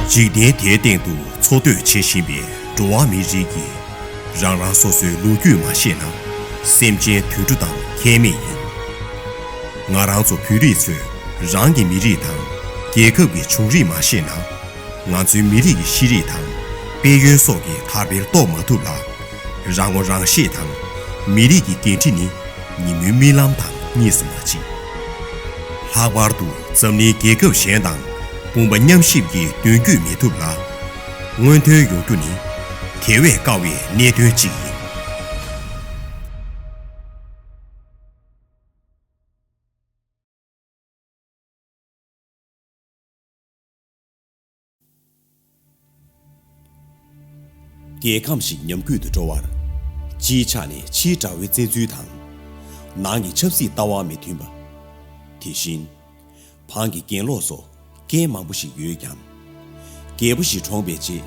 འཇིག་རྟེན་དེའི་སྟེང་དུ་འཚོ་སྡོད་བྱེད་བཞིན་པའི་འགྲོ་བ་མིའི་རིགས་ཀྱིས། རང་རང་སོ་སོའི་ལོ་རྒྱུས་མ་ཤེས་ན། སེམས་ཅན་དུད་འགྲོ་དང་ཁྱད་མེད་ཡིན། ང་རང་ཚོ་བོད་རིགས་ཚོས་རང་གི་མི་རིགས་དང། རྒྱལ་ཁབ་ཀྱི་བྱུང་རིམ་མ་ཤེས་ན། ང་ཚོའི་མི་རིགས་ཀྱི་ཤེས་རིག་དང། དཔལ་ཡོན་སོགས་ཀྱི་དར་འཕེལ་རྟོགས་མ་ཐུབ་ལ། རང་ངོ་རང་ཤེས་དང་མི་རིགས་ཀྱི་འགན་འཁྲི་ནི་ཉིན་མོའི་རྨི་ལམ་དང་གཉིས་སུ་མ་མཆིས། ལྷག་པར་དུ་འཛམ་གླིང་རྒྱལ་ཁབ་གཞན་དང་དཔུང་པ་མཉམ་གཤིབ་ཀྱིས་མདུན་སྐྱོད་མི་ཐུབ་ལ། སྔོན་ཐོན་ཡོང་རྒྱུ་ནི་དེ་བས་དཀའ་བའི་གནད་དོན་གཅིག་ཡིན། རྒྱལ་ཁམས་ཤིག་ཉམས་རྒུད་དུ་འགྲོ་བར། སྤྱིའི་ཆ་ནས་ཕྱིའི་དགྲ་བོའི་བཙན་འཛུལ་དང། ནང་གི་ཆབ་སྲིད་ལྟ་བ་མི་མཐུན་པ། དེ་བཞིན། བང་གི་གྱེན་ལོག་སོགས་རྐྱེན་མང་པོ་ཞིག་ཡོད་ཀྱང། རྒྱལ་པོ་ཞིག་གྲོངས་པའི་རྗེས་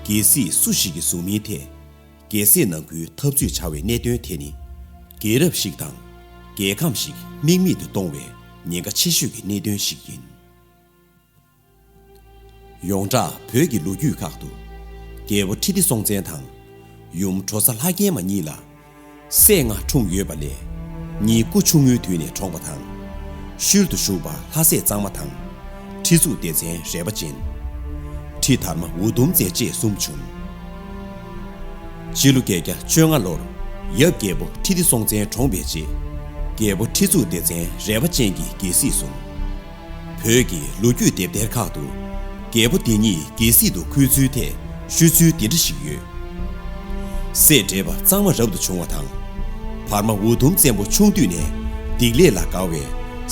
རྒྱལ་སྲིད་སུ་ཞིག་གིས་བཟུང་མིན་ཐད། རྒྱལ་སྲས་ནང་ཁུལ་འཐབ་རྩོད་བྱ་བའི་གནད་དོན་དེ་ནི། རྒྱལ་རབས་ཤིག་དང་རྒྱལ་ཁམས་ཤིག་དམིགས་མེད་དུ་གཏོང་བའི་ཉེན་ཁ་ཆེ་ཤོས་ཀྱི་གནད་དོན་ཞིག་ཡིན། ཡོངས་གྲགས་བོད་ཀྱི་ལོ་རྒྱུས་ཁག་ཏུ། རྒྱལ་པོ་ཁྲི་ལྡེ་སྲོང་བཙན་དང། ཡུམ་གྲོ་ས་ལྷ་རྒྱལ་མ་གཉིས་ལ། སྲས་ལྔ་འཁྲུངས་ཡོད་པ་ལས། གཉིས་སྐུ་ཆུང་ངུའི་དུས་ནས་གྲོངས་པ་དང། ཤུལ་དུ་བཞུགས་པ་ལྷ་སྲས་གཙང་མ་དང། ཁྲི་གཙུག་བདེ་ཆེན་རལ་པ་ཅན། ཁྲི་དར་མ་འུ་དུམ་བརྩེགས་བཅས་གསུམ་བྱུང། སྤྱི་ལོ་བརྒྱད་བརྒྱ་བཅོ་ལྔ་ལོར་ཡབ་རྒྱལ་པོ་ཁྲི་ལྡེ་སྲོང་བཙན་གྲོངས་པའི་རྗེས། རྒྱལ་པོ་ཁྲི་གཙུག་བདེ་ཆེན་རལ་པ་ཅན་གྱིས་རྒྱལ་སྲིད་བཟུང། བོད་ཀྱི་ལོ་རྒྱུས་དེབ་ཐེར་ཁག་ཏུ། རྒྱལ་པོ་འདི་ཉིད་རྒྱལ་སྲིད་དུ་འཁོད་ཚུལ་ཐད་ཤོད་ཚུལ་འདི་འདྲ་ཞིག་ཡོད། སྲས་དྲེགས་པ་གཙང་མ་རབ་ཏུ་བྱུང་བ་དང། བར་མ་འུ་དུམ་བཙན་པོ་ཆུང་དུས་ནས་སྡིག་ལས་ལ་དགའ་བས་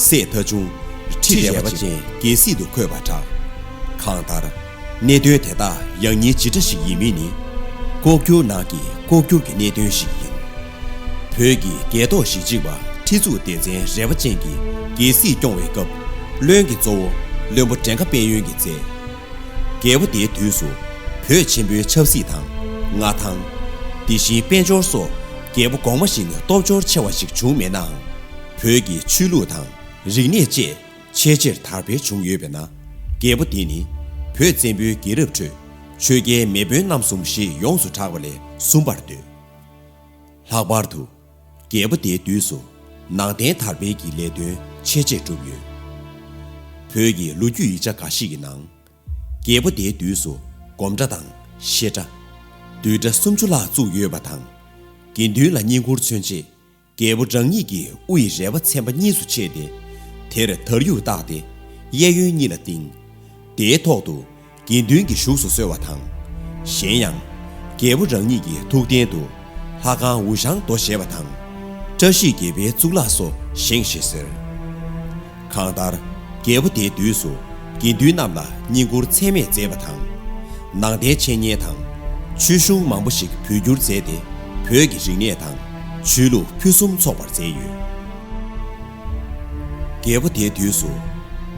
སྲས་མཐའ་ཆུང། ཁྲི་རལ་པ་ཅན་རྒྱལ་སྲིད་དུ་འཁོད་པར་གྲགས། གང་ལྟར། གནད་དོན་དེ་དག་ཡང་ཉིད་ཇི་འདྲ་ཞིག་ཡིན་མིན་ནི། ལྐོག་གྱུར་ནང་གི་ལྐོག་གྱུར་གྱི་གནད་དོན་ཞིག་ཡིན། བོད་ཀྱི་རྒྱལ་ཐོག་ཞི་གཅིག་པ་ཁྲི་གཙུག་བདེ་ཆེན་རལ་པ་ཅན་གྱིས་རྒྱལ་སྲིད་སྐྱོང་བའི་སྐབས་བློན་གྱི་གཙོ་བོ་བློན་པོ་བྲེ་མཁའ་དཔལ་ཡོན་གྱིས་མཛད། རྒྱལ་པོ་དེའི་དུས་སུ་བོད་ཆེན་པོའི་ཆབ་སྲིད་དང། མངའ་ཐང། དེ་བཞིན་དཔལ་འབྱོར་སོགས་རྒྱལ་པོ་གོང་མ་བཞིན་སྟོབས་འབྱོར་ཆེ་བ་ཞིག་བྱུང་མེད་ནའང། བོད་ཀྱི་ཆོས་ལུགས་དང་རིག་གནས་བཅས་ཆེས་ཆེར་དར་འཕེལ་བྱུང་ཡོད་པས་ན། རྒྱལ་པོ་དེ་ནི་བོད་བཙན་པོའི་རྒྱལ་རབས་ཁྲོད་ཆོས་རྒྱལ་མེས་དཔོན་རྣམ་གསུམ་ཞེས་ཡོངས་སུ་གྲགས་པ་ལས་གསུམ་པར་འདོད། ལྷག་པར་དུ། རྒྱལ་པོ་དེའི་དུས་སུ་ནང་བསྟན་དར་སྤེལ་གྱི་ལས་དོན་ཆེ་ཆེར་བསྒྲུབས་ཡོད། བོད་ཀྱི་ལོ་རྒྱུས་ཡིག་ཆ་འགའ་ཞིག་གི་ནང། རྒྱལ་པོ་དེའི་དུས་སུ་སྒོམ་གྲྭ་དང་བཤད་གྲྭ། བསྡུས་གྲྭ་སུམ་ཅུ་ལྷག་བཙུགས་ཡོད་པ་དང། དགེ་འདུན་ལ་བསྙེན་བཀུར་མཚོན་ཆེད་རྒྱལ་པོ་རང་ཉིད་ཀྱིས་དབུ་ཡི་རལ་པ་ཚན་པ་གཉིས་སུ་ཕྱེས་ཏེ། དེར་དར་ཡུག་བཏགས་ཏེ། གཡས་གཡོན་གཉིས་ལ་བཏིང། དེའི་ཐོག་ཏུ། དགེ་འདུན་གྱིས་བཞུགས་སུ་གསོལ་བ་དང། གཞན་ཡང། རྒྱལ་པོ་རང་ཉིད་ཀྱི་ཐུགས་རྟེན་དུ། ལྷ་ཁང་ཝུ་ཞང་རྡོ་ཞེས་པ་དང། བཀྲ་ཤིས་དགེ་བའི་གཙུག་ལག་སོགས་བཞེངས་ཞེས་ཟེར། གང་ལྟར། རྒྱལ་པོ་དེའི་དུས་སུ་དགེ་འདུན་རྣམས་ལ་བསྙེན་བཀུར་ཚད་མེད་མཛད་པ་དང། ནང་རྟེན་འཆད་ཉན་དང། ཆོས་གཞུང་མང་པོ་ཞིག་བོད་བསྒྱུར་མཛད་དེ་བོད་ཀྱི་རིག་གནས་དང་ཆོས་ལུགས་ཕུན་སུམ་ཚོགས་པར་མཛད་ཡོད། རྒྱལ་པོ་དེའི་དུས་སུ།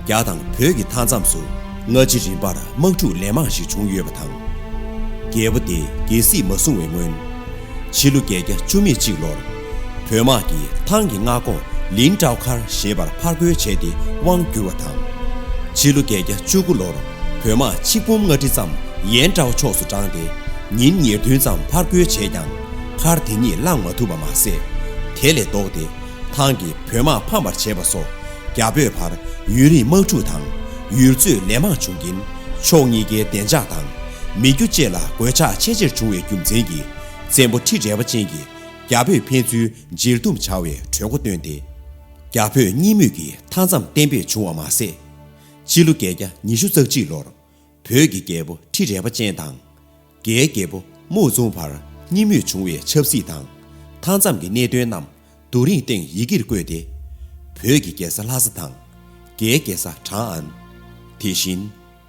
རྒྱ་དང་བོད་ཀྱི་མཐའ་མཚམས་སུ་སྔ་ཕྱི་རིམ་པར་དམག་འཁྲུག་ལན་མང་ཞིག་བྱུང་ཡོད་པ་དང། རྒྱལ་པོ་དེས་རྒྱལ་སྲིད་མ་བཟུང་བའི་སྔོན། ཕྱི་ལོ་བརྒྱད་བརྒྱ་བཅུ་མེད་གཅིག་ལོར། བོད་དམག་གིས་ཐང་གི་མངའ་ཁོངས་ལིན་ཀྲའོ་མཁར་ཞེས་པར་ཕར་རྒོལ་བྱས་ཏེ་དབང་བསྒྱུར་བ་དང། ཕྱི་ལོ་བརྒྱད་བརྒྱ་བཅུ་དགུ་ལོར་བོད་དམག་ཆིག་འབུམ་ལྔ་ཁྲི་ཙམ་ཡན་ཀྲའོ་ཕྱོགས་སུ་དྲངས་ཏེ་ཉིན་ཉེར་བདུན་ཙམ་ཕར་རྒོལ་བྱས་ཀྱང་མཁར་དེ་ཉིད་བླངས་མ་ཐུབ་པ་མ་ཟད། དེ་ལས་ལྡོག་སྟེ་ཐང་གིས་བོད་དམག་ཕམ་པར་བྱས་པ་སོགས་རྒྱ་བོད་བར་ཡུན་རིང་དམག་འཁྲུག་དང་ཡུལ་རྩོད་ལས་མང་བྱུང་རྐྱེན་ཕྱོགས་གཉིས་ཀའི་བདེ་འཇགས་དང་མི་རྒྱུ་བཅས་ལ་གོད་ཆག་ཆེས་ཆེར་བྱུང་བའི་རྒྱུ་མཚན་གྱིས་བཙན་པོ་ཁྲི་རལ་པ་ཅན་གྱི་རྒྱ་བོད་ཕན་ཚུན་མཇལ་དུམ་བྱ་བའི་གྲོས་འགོ་བཏོན་ཏེ། རྒྱ་བོད་གཉིས་མོས་ཀྱི་མཐའ་མཚམས་གཏན་འབེབས་བྱུང་བ་མ་ཟད། ཕྱི་ལོ་བརྒྱད་བརྒྱ་ཉི་ཤུ་རྩ་གཅིག་ལོར་བོད་ཀྱི་རྒྱལ་པོ་ཁྲི་རལ་པ་ཅན་དང། རྒྱའི་རྒྱལ་པོ་མའོ་ཙུང་བར་གཉིས་མོས་བྱུང་བའི་ཆབ་སྲིད་དང་མཐའ་མཚམས་ཀྱི་གནད་དོན་རྣམས་རྡོ་རིང་སྟེང་ཡི་གེར་བཀོད་དེ། བོད་ཀྱི་རྒྱལ་ས་ལྷ་ས་དང། རྒྱའི་རྒྱལ་ས་ཁྲང་ཨན། དེ་བཞིན་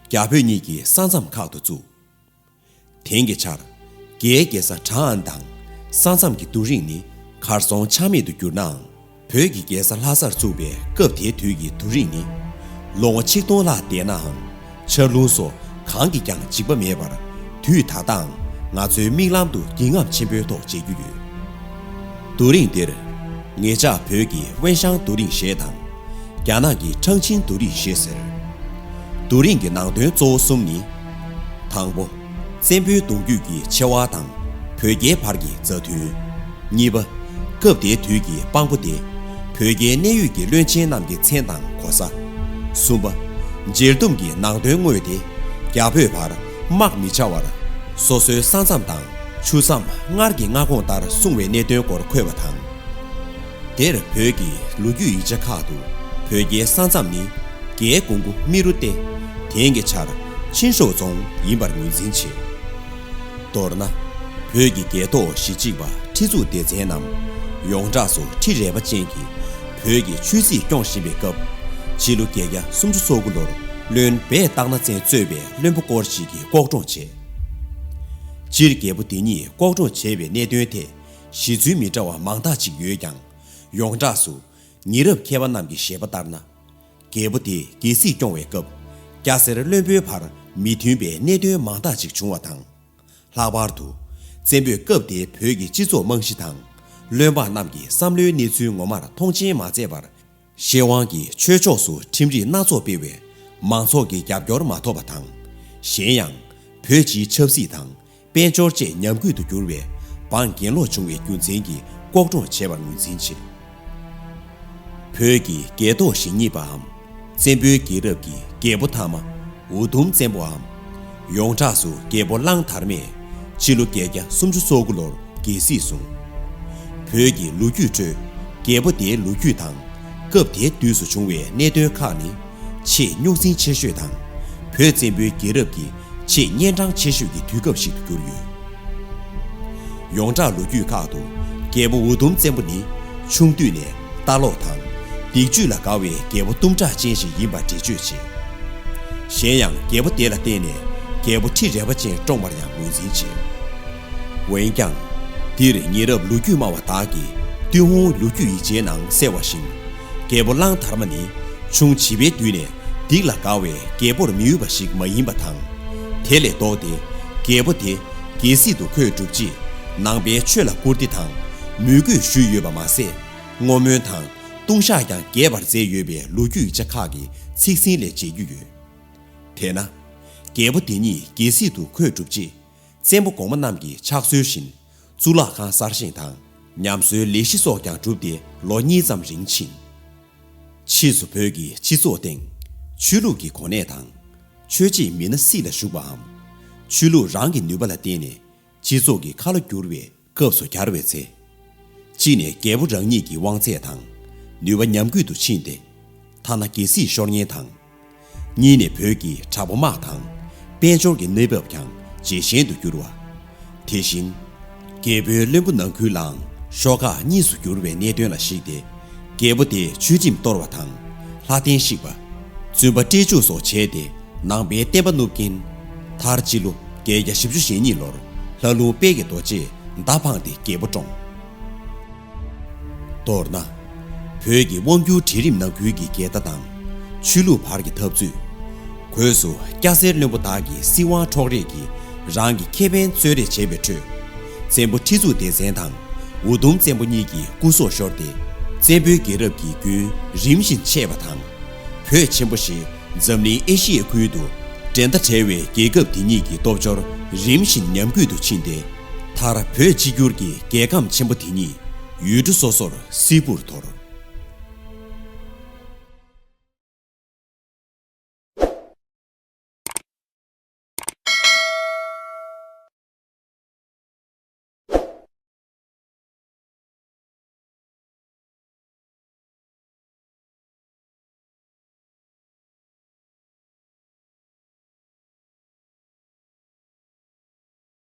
རྒྱ་བོད་གཉིས་ཀྱི་ས་མཚམས་ཁག་ཏུ་བཙུགས། དེང་གི་ཆར། རྒྱའི་རྒྱལ་ས་ཁྲ་ཨན་དང་ས་མཚམས་ཀྱི་རྡོ་རིང་ནི་གར་སོང་ཆ་མེད་དུ་གྱུར་ནའང། བོད་ཀྱི་རྒྱལ་ས་ལྷ་སར་བཙུགས་པའི་སྐབས་དེའི་དུས་ཀྱི་རྡོ་རིང་ནི། ལོ་ངོ་ཆིག་སྟོང་ལྷག་འདས་ནའང། ཆར་རླུང་སོགས་གང་གིས་ཀྱང་འཇིགས་པ་མེད་པར། དུས་ད་ལྟའང་ང་ཚོའི་མིག་ལམ་དུ་འགྱིང་ངམ་ཆེན་པོའི་ཐོག་མཇལ་རྒྱུ་ཡོད། རྡོ་རིང་འདིར། ངེད་ཅག་བོད་ཀྱིས་དབེན་ཞང་རྡོ་རིང་ཞེས་དང། རྒྱ་ནག་གི་ཁྲང་ཆིན་རྡོ་རིང་ཞེས་ཟེར། རྡོ་རིང་གི་ནང་དོན་གཙོ་བོ་གསུམ་ནི། དང་པོ། བཙན་པོའི་གདུང་རྒྱུད་ཀྱི་ཆེ་བ་དང་བོད་རྒྱའི་བར་གྱི་མཛའ་མཐུན། གཉིས་པ། སྐབས་དེའི་དུས་ཀྱི་དཔང་པོ་སྟེ། བོད་རྒྱའི་གནད་ཡོད་ཀྱི་བློན་ཆེན་རྣམས་ཀྱི་མཚན་དང་གོ་ས། གསུམ་པ། མཇལ་དུམ་གྱི་ནང་དོན་དངོས་དེ་རྒྱ་བོད་བར་དམག་མི་བྱ་བར། སོ་སོའི་ས་མཚམས་དང་ཆུ་མཚམས་སྔར་གྱི་མངའ་ཁོངས་ལྟར་སྲུང་བའི་གནད་དོན་སྐོར་འཁོད་པ་དང། འདིར་བོད་ཀྱི་ལོ་རྒྱུས་ཡིག་ཆ་ཁག་ཏུ་བོད་རྒྱའི་ས་མཚམས་ནི་རྒྱའི་ཀོང་པོ་རྨེ་རུ་སྟེ། དེང་གི་ཆར་ཆིན་ཧྲོའུ་རྫོང་ཡིན་པར་ངོས་འཛིན་བྱེད། མདོར་ན། བོད་ཀྱི་རྒྱལ་ཐོག་གཞི་གཅིག་པ་ཁྲི་གཙུག་སྡེ་བཙན་རྣམས་ཡོངས་གྲགས་སུ་ཁྲི་རལ་པ་ཅན་གྱི་བོད་ཀྱི་ཆོས་སྲིད་སྐྱོང་བཞིན་པའི་སྐབས། སྤྱི་ལོ་བརྒྱད་བརྒྱ་སུམ་ཅུ་སོ་དགུ་ལོར་བློན་སྦས་སྟག་ནག་བཙན་གཙོས་པའི་བློན་པོ་སྐོར་ཅིག་གིས་ལྐོག་གྲོང་བྱས། སྤྱིར་རྒྱལ་པོ་འདི་ཉིད་ལྐོག་གྲོང་བྱས་པའི་གནད་དོན་ཐད། གཞི་ཚུལ་མི་འདྲ་བ་མང་དག་ཅིག་ཡོད་ཀྱང། ཡོངས་གྲགས་སུ། ཉེ་རབས་མཁས་པ་རྣམས་ཀྱི་བཞེད་པ་ལྟར་ན། རྒྱལ་པོ་དེ་རྒྱལ་སྲིད་སྐྱོང་བའི་སྐབས། སྐྱ་སེར་བློན་པོའི་བར་མི་མཐུན་པའི་གནད་དོན་མང་དག་ཅིག་བྱུང་བ་དང། ལྷག་པར་དུ། བཙན་པོས་སྐབས་དེའི་བོད་ཀྱི་སྤྱི་ཚོགས་རྨང་གཞི་དང། བློན་འབངས་རྣམས་ཀྱི་བསམ་བློའི་གནས་ཚུལ་ངོ་མར་མཐོང་ཆེན་མ་མཛད་པར། ཤེས་དབང་གིས་ཆོས་ཕྱོགས་སུ་ཁྲིམས་རིགས་སྣ་ཚོགས་སྤེལ་བས་མང་ཚོགས་ཀྱི་རྒྱབ་སྐྱོར་མ་ཐོབ་པ་དང། གཞན་ཡང། བོད་སྤྱིའི་ཆབ་སྲིད་དང་དཔལ་འབྱོར་བཅས་ཉམས་རྒུད་དུ་གྱུར་བས་འབངས་གྱེན་ལོག་བྱུང་བའི་རྒྱུ་མཚན་གྱིས་ལྐོག་གྲོངས་བྱས་པར་ངོས་འཛིན་བྱེད། བོད་ཀྱི་རྒྱལ་ཐོག་ཞེ་གཉིས་པའམ། བཙན་པོའི་རྒྱལ་རབས་ཀྱི་རྒྱལ་པོ་དྷརྨ། འུ་དུམ་བཙན་པོའམ། ཡོངས་གྲགས་སུ་རྒྱལ་པོ་གླང་དར་མས་ཕྱི་ལོ་བརྒྱད་བརྒྱ་སུམ་ཅུ་སོ་དགུ་ལོར་རྒྱལ་སྲིད་བཟུང། བོད་ཀྱི་ལོ་རྒྱུས་ཁྲོད་རྒྱལ་པོ་དེའི་ལོ་རྒྱུས་དང་སྐབས་དེ་དུས་སུ་བྱུང་བའི་གནད་དོན་ཁག་ནི། ཆེས་རྙོག་འཛིང་ཆེ་ཤོས་དང། བོད་བཙན་པོའི་རྒྱལ་རབས་ཀྱི་ཆེས་གཉན་འཕྲང་ཆེ་ཤོས་ཀྱི་དུས་སྐབས་ཤིག་ཏུ་གྱུར་ཡོད། ཡོངས་གྲགས་ལོ་རྒྱུས་ཁག་ཏུ་རྒྱལ་པོ་འུ་དུམ་བཙན་པོ་ནི་ཆུང་དུས་ནས་ལྟ་ལོག་དང་སྡིག་བཅུད་ལ་དགའ་བའི་རྒྱལ་པོ་གཏུམ་དྲག་ཅན་ཞིག་ཡིན་པར་འགྲེལ་བརྗོད་བྱེད། གཞན་ཡང་རྒྱལ་པོ་དེ་ལ་བརྟེན་ནས་རྒྱལ་པོ་ཁྲི་རལ་པ་ཅན་བཀྲོངས་པར་ཡང་ངོས་འཛིན་བྱེད། འོན་ཀྱང། འདིར་ཉེ་རབས་ལོ་རྒྱུས་སྨྲ་བ་དག་གིས་ཏུན་ཧོང་ལོ་རྒྱུས་ཡིག་ཆའི་ནང་གསལ་བ་བཞིན། རྒྱལ་པོ་གླང་དར་མ་ནི་ཆུང་བྱིས་པའི་དུས་ནས་སྡིག་ལ་དགའ་བས་རྒྱལ་པོར་མི་འུས་པ་ཞིག་མ་ཡིན་པ་དང། དེ་ལས་ལྡོག་སྟེ། རྒྱལ་པོ་དེ། རྒྱལ་སྲིད་དུ་ཁོས་བསྒྲུབས་རྗེས། ནང་པའི་ཆོས་ལ་བཀུར་སྟི་དང། མོས་གུས་ཞུས་ཡོད་པ་མ་ཟད། བསྔོ་སྨོན་དང། ལྟུང་བཤགས་ཀྱང་རྒྱས་པར་མཛད་ཡོད་པའི་ལོ་རྒྱུས་ཆ་ཁག་གི་ཚིག་ཟིན་ལས་མཇལ་རྒྱུ་ཡོད། དེས་ན། རྒྱལ་པོ་དེ་ཉིད་རྒྱལ་སྲིད་དུ་ཁོས་བསྒྲུབས་རྗེས། བཙན་པོ་གོང་མ་རྣམས་ཀྱི་ཕྱག་སྲོལ་བཞིན། གཙུག་ལག་ཁང་གསར་བཞེངས་དང། ཉམས་གསོའི་ལས་གཞི་སོགས་ཀྱང་གྲུབ་སྟེ་ལོ་གཉིས་ཙམ་རིང་ཕྱིན། ཕྱིས་སུ་བོད་ཀྱི་སྤྱི་ཚོགས་སྟེང། ཆོས་ལུགས་ཀྱི་གོ་གནས་དང། ཆོས་བྱེད་མི་སྣ་སྲིད་ལ་ཞུགས་པའམ། ཆོས་ལུགས་རང་གི་ནུས་པ་ལ་བརྟེན་ནས་སྤྱི་ཚོགས་ཀྱི་ཁ་ལོ་བསྒྱུར་བའི་སྐབས་སུ་གྱར་བའི་ཚེ། གཅིག་ནས་རྒྱལ་པོ་རང་ཉིད་ཀྱི་དབང་ཚད་དང་ནུས་པ་ཉམས་རྒུད་དུ་ཕྱིན་ཏེ། ཐ་ན་རྒྱལ་སྲིད་ཤོར་ཉེན་དང། གཉིས་ནས་བོད་ཀྱི་དྲ་འབུ་དམག་དང་དཔལ་འབྱོར་གྱི་གནས་བབ་ཀྱང་ཇེ་ཞན་དུ་གྱུར་བ། དེ་བཞིན། རྒྱལ་པོའི་བློན་པོ་ནང་ཁུལ་ལའང་ཤོག་ཁག་གཉིས་སུ་གྱུར་བའི་གནད་དོན་ལ་གཞིགས་ཏེ། རྒྱལ་པོ་དེས་ཆོས་ཁྲིམས་གཏོར་བ་དང། ལྷ་རྟེན་བཤིག་པ། བཙུན་པ་བཀྲེས་འཇུག་སོགས་བྱས་ཏེ་ནང་པའི་བསྟན་པ་བསྣུབས་ཀྱིན། མཐར་སྤྱི་ལོ་བརྒྱད་བརྒྱ་བཞི་བཅུ་ཞེ་གཉིས་ལོར་ལྷ་ལུང་དཔལ་གྱི་རྡོ་རྗེས་མདའ་འཕངས་ཏེ་རྒྱལ་པོ་བཀྲོངས། མདོར་ན། བོད་ཀྱི་དབང་སྒྱུར་གྲལ་རིམ་ནང་ཁུལ་གྱི་འགལ་ཟླ་དང། ཆོས་ལུགས་བར་གྱི་འཐབ་རྩོད། གོས་སུ་སྐྱ་སེར་བློན་པོ་དག་གི་སྲིད་དབང་འཕྲོག་རེས་ཀྱིས་རང་གི་ཁེ་ཕན་རྩོད་རེས་བྱས་པའི་ཁྲོད། བཙན་པོ་ཁྲི་གཙུག་ལྡེ་བཙན་དང་འུ་དུམ་བཙན་པོ་གཉིས་ཀྱི་སྐུ་སྲོག་ཤོར་ཏེ། བཙན་པོའི་རྒྱལ་རབས་ཀྱི་རྒྱུན་རིམ་བཞིན་ཆད་པ་དང། བོད་ཆེན་པོ་ཞེས་འཛམ་གླིང་ཨེ་ཤི་ཡའི་ཁུལ་དུ་འགྲན་ཟླ་བྲལ་བའི་རྒྱལ་ཁབ་དེ་ཉིད་ཀྱི་སྟོབས་འབྱོར་རིམ་བཞིན་ཉམས་རྒུད་དུ་ཕྱིན་ཏེ། མཐར་བོད་གཅིག་གྱུར་གྱི་རྒྱལ་ཁམས་ཆེན་པོ་དེ་ཉིད་ཡུལ་གྲུ་སོ་སོར་སིལ་བུར་དོར།